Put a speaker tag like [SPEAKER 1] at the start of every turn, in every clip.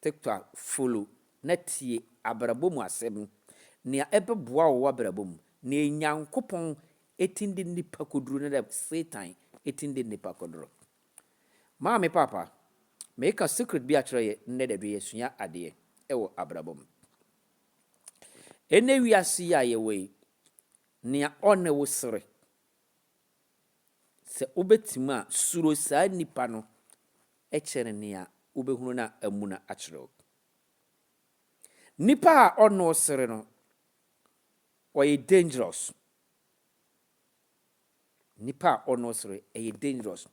[SPEAKER 1] TikTok follow na tie abrabɔ mu asɛm, nea ɛbɛboa wo w'abrabɔ mu, nea Nyankopɔn ɛtumi de nnipa kɔduru ne nea Satan ɛtumi de nnipa kɔduru. Maame Papa, meka secret bi akyerɛ yɛ nnɛ da bi yɛsua adeɛ ɛwɔ abrabɔ mu. Ɛnnɛ wiase yi a yɛwɔ yi, nea ɔne wo sere Sɛ wobɛtumi a, suro saa nnipa no kyɛn nea wobɛhunu no a amuna akyerɛ wo. Nipa a ɔne wo sere no, ɔyɛ dangerous. Nipa a ɔne wo sere, ɛyɛ dangerous.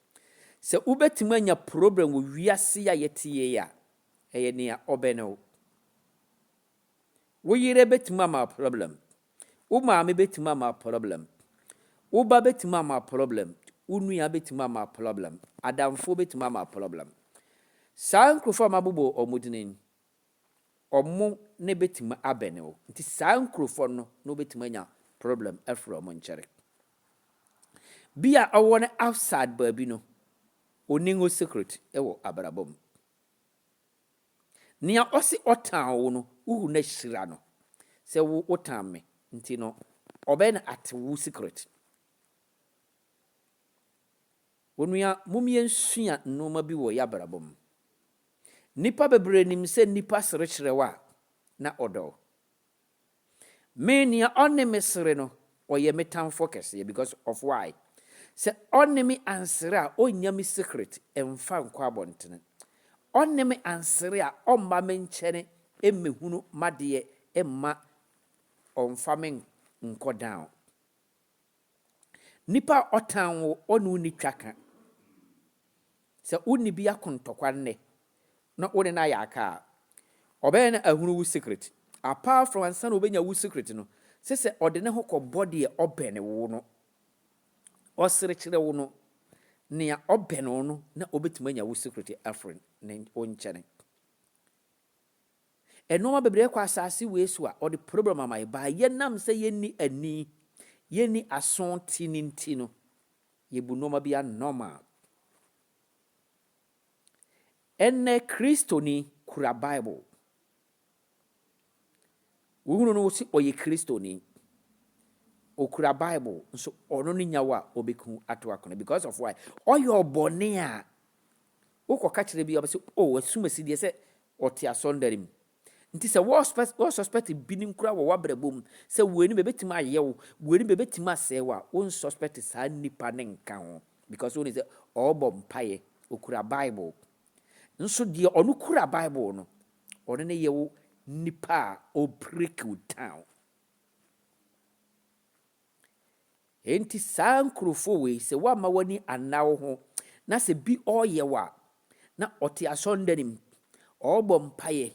[SPEAKER 1] Sɛ wobɛtumi anya problem wɔ wiase yi a yɛte yei a, ɛyɛ nea ɔbɛne wo. Wo yere bɛtumi ama wo problem. Wo maame bɛtumi ama problem. Wo ba bɛtumi ama problem. Wo nua bɛtumi ama problem. Adamfoɔ bɛtumi ama problem. Saa nkurɔfoɔ a mabobɔ wɔn din yi, wɔn ne bɛtumi abɛne wo. Nti saa nkurɔfoɔ no na wobɛtumi anya problem afiri wɔn nkyɛre. Bi a ɔwɔ no outside baabi no, ɔnni ho secret wɔ abrabɔ mu. Nea ɔse ɔtan wo no, wohu na hyira no sɛ wo wotan me nti no, ɔbɛn ate wo secret. Onua, mom yɛnsua nnoɔma bi wɔ y'abrabɔ mu. Nnipa bebree nim sɛ nnipa serekyerɛ wo a, na ɔdɔ wo. Me nea ɔne me sere no ɔyɛ me tamfoɔ kɛseɛ because of why? Sɛ ɔne me ansere a ɔnnya me secret mfa nkɔ abɔntene. Ɔne me ansere a ɔmma me nkyɛne mmɛhunu m'adeɛ mma ɔmfa me nkɔ down. Nipa a ɔtan wo ɔne wo nni twaka. Sɛ wo ne bi ako ntɔkwa nnɛ na wo ne no ayɛ aka a, ɔbɛyɛ na ahunu wo secret. Apart from ansa na ɔbɛnya wo secret no, se sɛ ɔde ne ho kɔbɔ deɛ ɔbɛne wo no, ɔsere kyerɛ wo no, nea ɔbɛne wo no na ɔbɛtumi anya wo secret afiri ne wo nkyɛne. Nnoɔma bebree kɔ asaase wei so a ɔde problem ama yɛn baa yɛnam sɛ yɛnni ani, yɛnni aso te no nti no, yɛbu nnoɔma bi anormal. Ɛnnɛ Kristoni kura Bible. Wohunu no wɔsi ɔyɛ Kristoni. Ɔkura Bible nso ɔno ne nyawa a ɔbɛku ato akona because of why? Ɔyɛ ɔbɔne a Wo kɔ ka kyerɛ bi a ɔbɛ sɛ oh asumasi deɛ sɛ ɔte asɔndare mu. Nti sɛ wɔ suspect wɔ suspect binom koraa wɔ w'abrabɔ mu sɛ wei no bɛ bɛtumi ayɛ wo, wei no bɛ bɛtumi asɛe wo a, wo nsuspect saa nipa no nka ho because wo nim sɛ ɔɔbɔ mpaeɛ, ɔkura bible. Nso deɛ ɔno kura bible no, ɔno ne yɛ wo nipa a ɔɔ break wo down. Enti saa nkurofo wei sɛ woamma w'ani anna wo ho na sɛ bi ɔɔyɛ wo a na ɔte asɔndan mu ɔɔbɔ mpaeɛ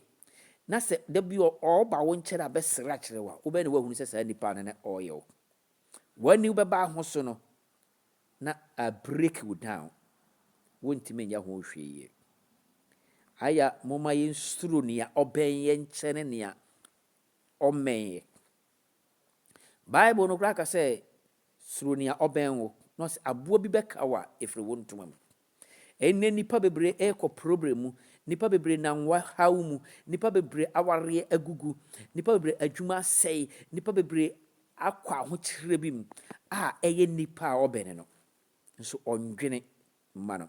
[SPEAKER 1] na sɛ da bi ɔɔba wo nkyɛn abɛsrɛ akyerɛ wo a wobɛyɛ na woahunu sɛ saa nipa no na ɔɔyɛ wo. W'ani wobɛba aho so no na a break wo down wontumi nyɛ ho hwee yie. Aya momma yɛnsuro nea ɔbɛn yɛn nkyɛne nea ɔmmɛn yɛ. Bible no koraa ka sɛ, Suro nea ɔbɛn wo, na ɔsɛ aboa bi bɛka wo a, ɛfiri wo ntoma mu. Ɛnnɛ nnipa bebree rekɔ probrɛ mu, nnipa bebree nam haw mu, nnipa bebree awareɛ agugu, nnipa bebree adwuma asɛe, nnipa bebree akɔ ahokyerɛ bi mu a ɛyɛ nnipa a ɔbɛne no nso ɔndwene mma no,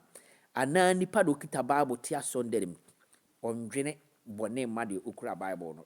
[SPEAKER 1] anaa nnipa de ɔkita Bible te asɔndane mu, ɔndwene bɔne mma deɛ ɔkura Bible no.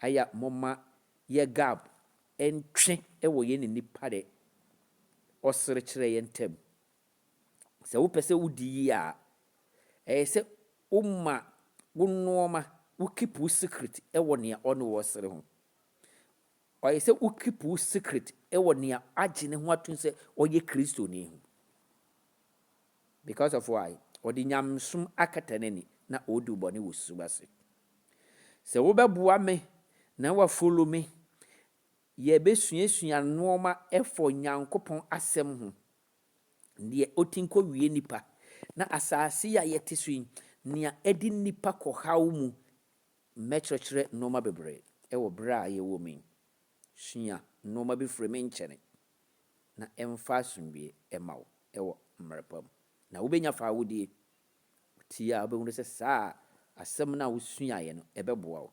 [SPEAKER 1] Aya momma yɛ gab ntwe wɔ yɛne nnipa de ɔserekyerɛ yɛ ntam. Sɛ wopɛ sɛ wodi yie a, ɛyɛ sɛ woma wo nnoɔma, wo keep wo secret wɔ nea ɔne wo ɔsere ho. Ɔyɛ sɛ wo keep wo secret wɔ nea agye ne ho atom sɛ ɔyɛ Kristoni ho. Because of why? Ɔde nyamesom akata n'ani na ɔrediw bɔne wɔ susuw ase. Sɛ wobɛboa me na woafollow me, yɛbɛsuasua nnoɔma ɛfa Onyankopɔn asɛm ho, deɛ ɔti nkɔ wie nnipa, na asase yi a yɛte so yi, nea ɛde nnipa kɔ haw mu. Mɛkyerɛkyerɛ nnoɔma bebree ɛwɔ berɛ a yɛwɔ mu yi. Sua nnoɔma bi firi me nkyɛne. na ɛmfa asomdwoeɛ mma wo wɔ mmerɛ pa mu, na wobɛnya faahodie. Wotie a, wobɛhunu sɛ saa asɛm no a wosuaeɛ no, ɛbɛboa wo.